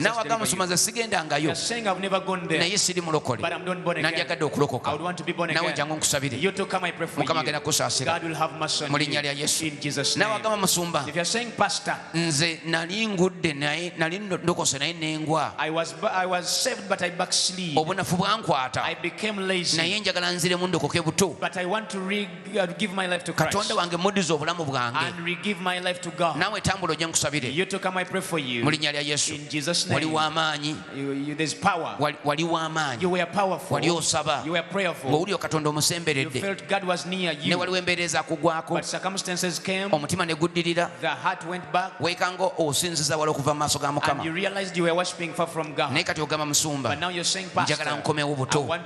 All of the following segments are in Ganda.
naawe agamba nsoma nze sigendangayo naye siri mulokole nandyagadde okulokoka naawe jangu nkusabire mukama agenda kusaasira mu linnya lya yesu naawe agamba musumba nze nali ngudde naye nali ndokose naye nengwa obunafu bwankwata naye njagala nziremu ndokoke buto uh, give my life to Christ. katonda wange muddize obulamu bwange And re- give my life to God. naawe tambula ojje nkusabire You to come, I pray for you. mu linnya lya yesu In Jesus' wali name. w'amaanyi You, you, there's power. wali- wali You w'amaanyi were powerful. wali osaba You were prayerful. ng'owulira katonda You omusemberedde felt God was near ne you. waliwo embeera ezakugwako But circumstances came. omutima ne guddirira The heart went back. weekanga osinziza wala okuva mu maaso ga And you mukama realized you were worshiping far from God. naye kati ogamba musumba But now you're saying, Pastor, njagala nkomewo I buto want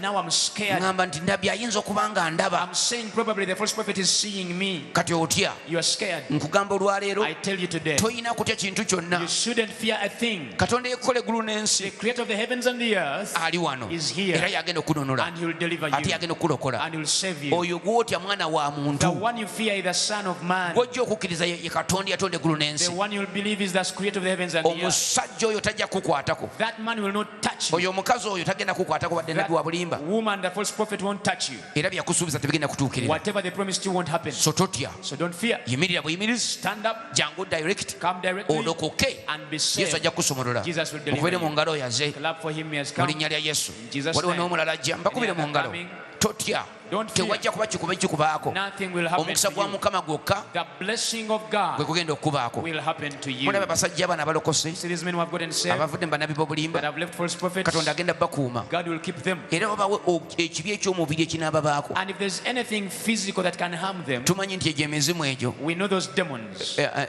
Now I'm scared. ŋŋamba nti ndabye ayinza okuba nga ndaba I'm saying probably the false prophet is seeing me. kati otya You are scared. nkugamba olwaleero I tell you today, tolina kutya kintu kyonna you shouldn't fear a thing. katonda yekola eggulu The n'ensi creator of the heavens and the earth, ali wano Is here. era yagenda okununula and he'll deliver ate you, yagenda okukulokola and he'll save you. oyo gwotya mwana wa The muntu one you fear is the Son of Man. gwojja okukkiriza ye ye katonda yatonda eggulu The n'ensi one you'll believe is the creator of the heavens and the earth. omusajja oyo tajja kukwatako That man will not touch you. oyo omukazi oyo tagenda kukwatako wadde nabbi wa bulimba That woman, the false prophet won't touch you. era byeyakusuubiza tebigenda kutuukirira Whatever they promised you won't happen. so totya So don't fear. yimirira buyimirizi Stand up, jangu direct come directly, olokoke and be yesu saved. ajja kukusumulula Jesus will deliver mukubire mu you. ngalo yaze Clap for him, he has mu come. linnya lya yesu In Jesus' waliwo name. n'omulala ajja mbakubire Any mu other ngalo coming? totya tewajja kuba kikuba kikubaako omukisa gwa mukama gwokka gwe kugenda okukubaako mulaba abasajja abana abalokose abavudde mu banabi b'obulimba katonda agenda bakuuma era babawe ekibi eky'omubiri ekinababaako tumanyi nti egyo emizimu egyo eh, eh,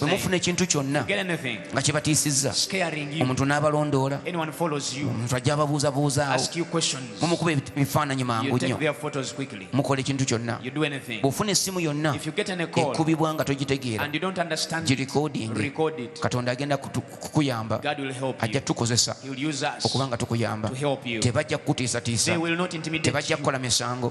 bwe mufuna ekintu kyonna nga kibatiisizza omuntu n'abalondoola omuntu ajja ababuuzabuuzaawo mumukuba ebifaananyi mangu nnyo mukola ekintu kyonna bw'ofuna essimu yonna ekubibwa nga togitegeera girikodingi katonda agenda kukuyamba ajja tukozesa okuba nga tukuyamba tebajja kukutiisatiisa tebajja kukola misango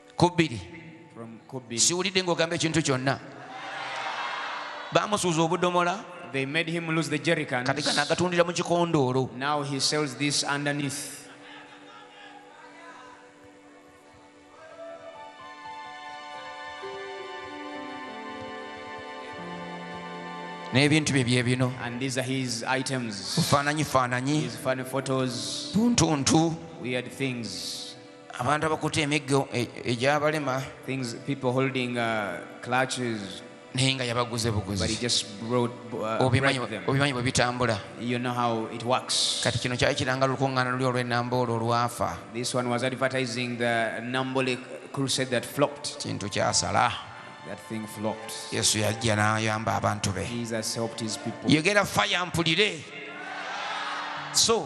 ku bbiri siwulidde ng'ogamba ekintu kyonna bamusuuza obudomola They made him lose the jerrycans. kati kana agatundira mu kikondoolo Now he sells this underneath. n'ebintu bye byebino And these are his items. bufaananyi faananyi His funny photos, buntuntu weird things. abantu abakutte emiggo e, egyabalema naye nga yabaguze buguzi uh, obimanyi bwe bitambula kati kino kyali kiranga lukuŋŋaana luli olw'ennamba olwo olwafa kintu kyasala yesu yajja n'ayamba abantu be yogera faya mpulire so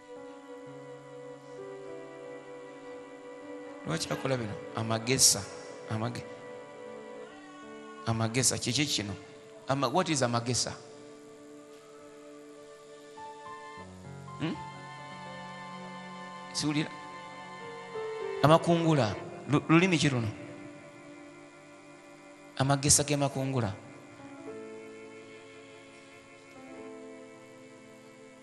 lwaki akola bino amagesa amage amagesa kiki kino Ama, what is amagesa hmm? siwulira amakungula lulimi ki luno amagesa gemakungula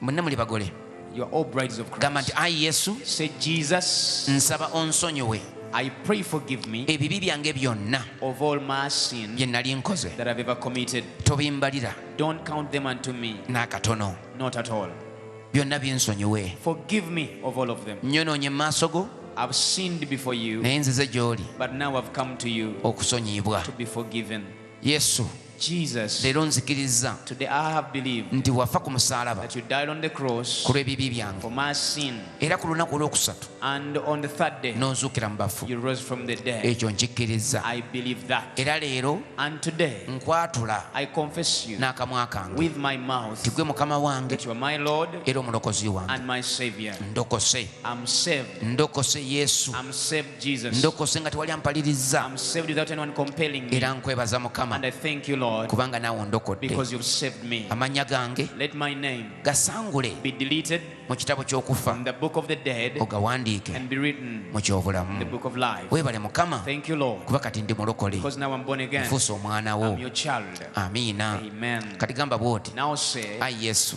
mwenna muli bagole gamba nti ayi yesu nsaba onsonyiwe I pray forgive me ebibi byange byonna of all my sins bye nali nkoze that I've ever committed tobimbalira don't count them unto me n'akatono not at all byonna binsonyiwe forgive me of all of them nyonoonye mu maaso go I've sinned before you naye nzize gy'oli but now I've come to you okusonyiyibwa to be forgiven Yesu, Jesus, leero nzikirizza today I have believed nti wafa ku musaalaba that you died on the cross ku lw'ebibi byange for my sin, era ku lunaku olwokusatu and on the third day n'onzuukira mu bafu you rose from the dead. ekyo nkikkirizza I believe that. era leero And today nkwatula I confess you n'akamwa kange with my mouth nti gwe mukama wange that you are my Lord era omulokozi wange and my Savior. ndokose I'm saved. ndokose yesu I'm saved. ndokose nga tewali ampalirizza era nkwebaza mukama kubanga naawe ondokodde amannya gange gasangule mu kitabo ky'okufa ogawandiike mu ky'obulamu weebale mukama kuba kati ndi mulokole nfuusa omwana wo amiina kati gamba bw'oti ayi yesu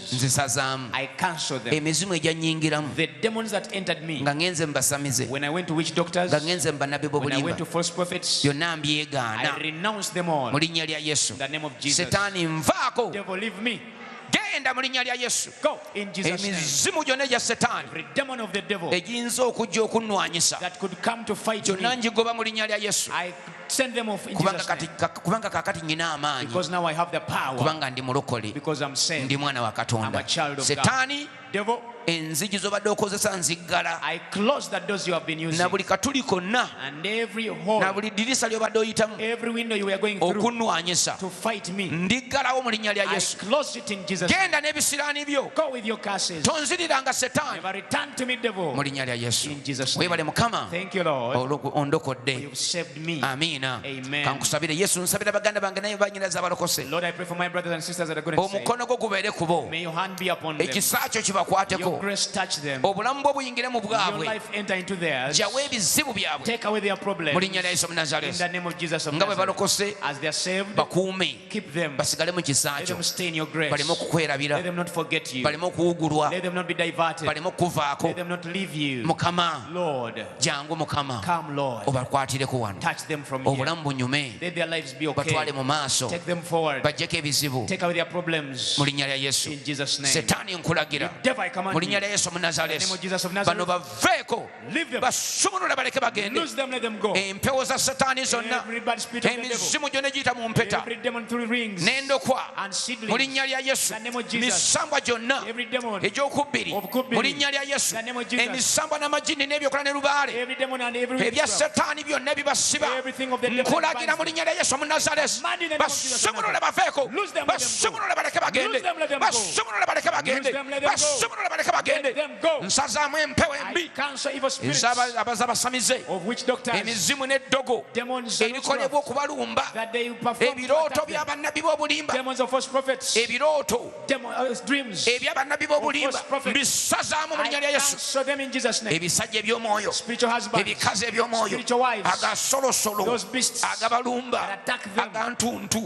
nzisazaamu emizimu egyannyingiramu nga ŋenze mu basamize nga ŋenze mu bannabbi b'obulimba yonna mbyegaana mu linnya lya yesu setaani nvaako genda mu linnya lya yesu emizimu gyonna egya setaani egiyinza okujja okunnwanyisa gyonna ngigoba mu linnya lya yesu Send them off in kubanga Jesus' kati name. ka- kubanga kakati nyina amaanyi Because now I have the power. kubanga ndi mulokole Because I'm saved. ndi mwana wa I'm katonda a child of God. setaani Devil, enzigi zobadde okozesa nziggala I close the doors you have been using. na buli katuli konna And every na hole, buli dirisa lyobadde oyitamu every window you were going through okunwanyisa to fight me, ndiggalawo mu linnya lya I yesu close it in Jesus. name. genda n'ebisiraani byo Go with your curses. tonziriranga setaani Never return to me, devil. mu linnya lya yesu In Jesus' name. webale mukama Thank you, Lord. olwo- ondokodde amiina kankusabire yesu nsabira baganda bange naye banyinaza abalokose omukono gwo gubeere ku bo ekisa kyo kibakwateko obulamu bwo buyingire mu bwabwe jawo ebizibu byabwe mu linnya lya yesu munazaresi nga bwe balokose bakuume basigale mu kisa kyo baleme okukwerabira baleme okuwugulwa baleme okukuvaako mukama jangu mukama obakwatireko wano obulamu bunyume batwale mu maaso bajjeko ebizibu mu linnya lya yesu setaani nkulagira mu linnya lya yesu omunazalesi bano baveeko basumulula baleke bagende empewo za setaani zonna emizimu gyona egiyita mu mpeta n'endokwa mu linnya lya yesu misambwa gyonna ekyokubiri mu linnya lya yesu emisambwa n'amajini n'ebyokola ne lubaale ebya setaani byonna bibasiba nkulagira mu linnya lya yesu omunazaresi basumulule baveeko basumulule baleke bagende basumulule baleke bagende basumulule baleke bagende nsazaamu empewo embi abaza basamize emizimu n'eddogo ebikolebwa okubalumba ebirooto by'abannabbi b'obulimba ebirooto Uh, ebya bannabbi b'obulimba mbisazaamu mu linnya lya yesu ebisajja eby'omwoyo ebikazi eby'omwoyo agasolosolo agabalumba agantuntu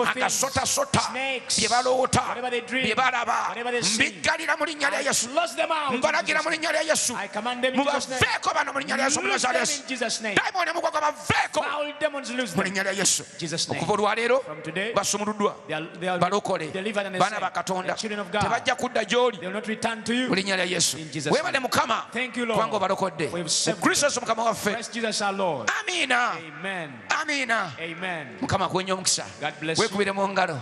agasotasota bye baloota bye balaba mbiggalira mu linnya lya yesu mbalagira mu linnya lya yesu mubaveeko bano mu linnya lya yesu omunazaaleesi dayimooni mugwaga baveeko mu linnya lya yesu okuva olwaleero basumuluddwa balokole baana ba katonda tebajja kudda gyoli mu linnya lya yesu webale mukama kubanga obalokodde mu kristo yesu mukama waffe amiina amiina mukama akuwenye omukisa wekubire mu ngalo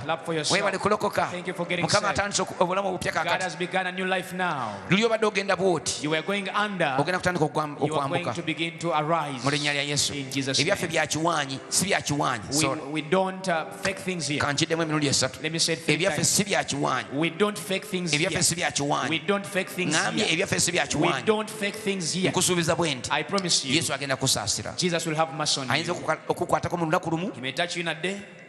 webale kulokoka mukama atandise obulamu obupya kakati luli obadde ogenda bwoti ogenda kutandika okwambuka mu linnya lya yesu ebyaffe byakiwaanyi si byakiwaanyi uh, kankiddemu emirundi esatu ebyaffe si byakiwaanyi ebyaffe si byakiwaanyi ŋambye ebyaffe si byakiwaanyi nkusuubiza bwe nti yesu agenda kusaasira ayinza okukwatako mu lunaku lumu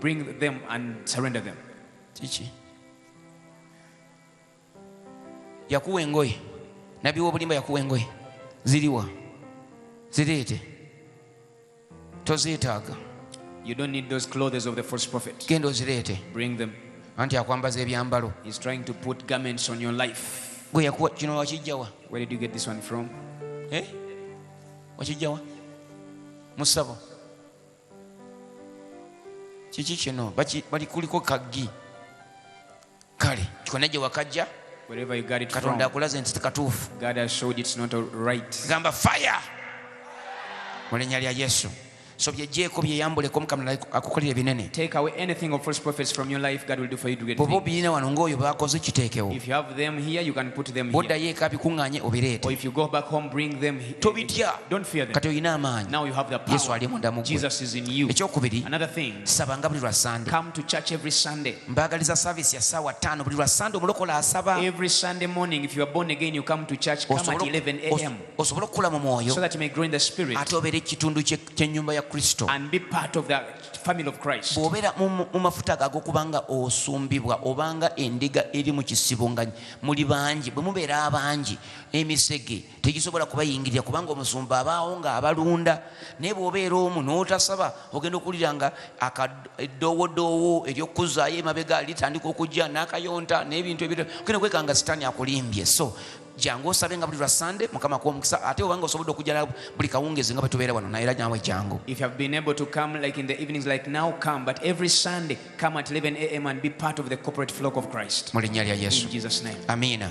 bring them and surrender them kiki yakuwa engoye nabbi wobulimba yakuwa engoye ziriwa zireete tozeetaaga You don't need those clothes of the false prophet. Genda ozireete. Bring them. Anti akwambaza ebyambalo. He's trying to put garments on your life. Gwe yakuwa kino wakijjawa? Where did you get this one from? Eh? Wakijjawa? Musabo. kiki kino bali kuliko kaggi kale kikona gye wakajja katonda akulaze nti katuufu gamba fire mu linnya lya yesu so byejjeeko byeyambuleko mukama akukolera ebinene bwoba obirina wano ngaoyo bakoze kiteekewo bwoddayo eka bikuŋŋaanye obireete tobitya kati olina amaanyi yesu ali munda mugwe ekyokubiri sabanga buli lwa sande mbaagaliza saavisi ya saawa ttaano buli lwa sande omulokola asaba osobole okukula mu mwoyo ate obeere ekitundu kyennyumba ya kristo bw'obeera mu mafuta gago kubanga osumbibwa obanga endiga eri mu kisibo nga muli bangi bwe mubeera abangi emisege tegisobola kubayingirira kubanga omusumba abaawo nga abalunda naye bwobeera omu notasaba ogenda okuwulira nga akadoowodoowo eryokukuzaayo emabega litandika okujja nakayonta nebintu ebira ogenda okweka nga sitaani akulimbye so jangu osabe nga buli lwa sande mukama kuwa omukisa ate obanga osobodde okujjala buli kawungezi nga bwetubeera wano naye era nawe jangu if you have been able to come like in the evenings like now come but every sunday come at 11 am and be part of the corporate flock of christ mu linnya lya yesu in jesus name amina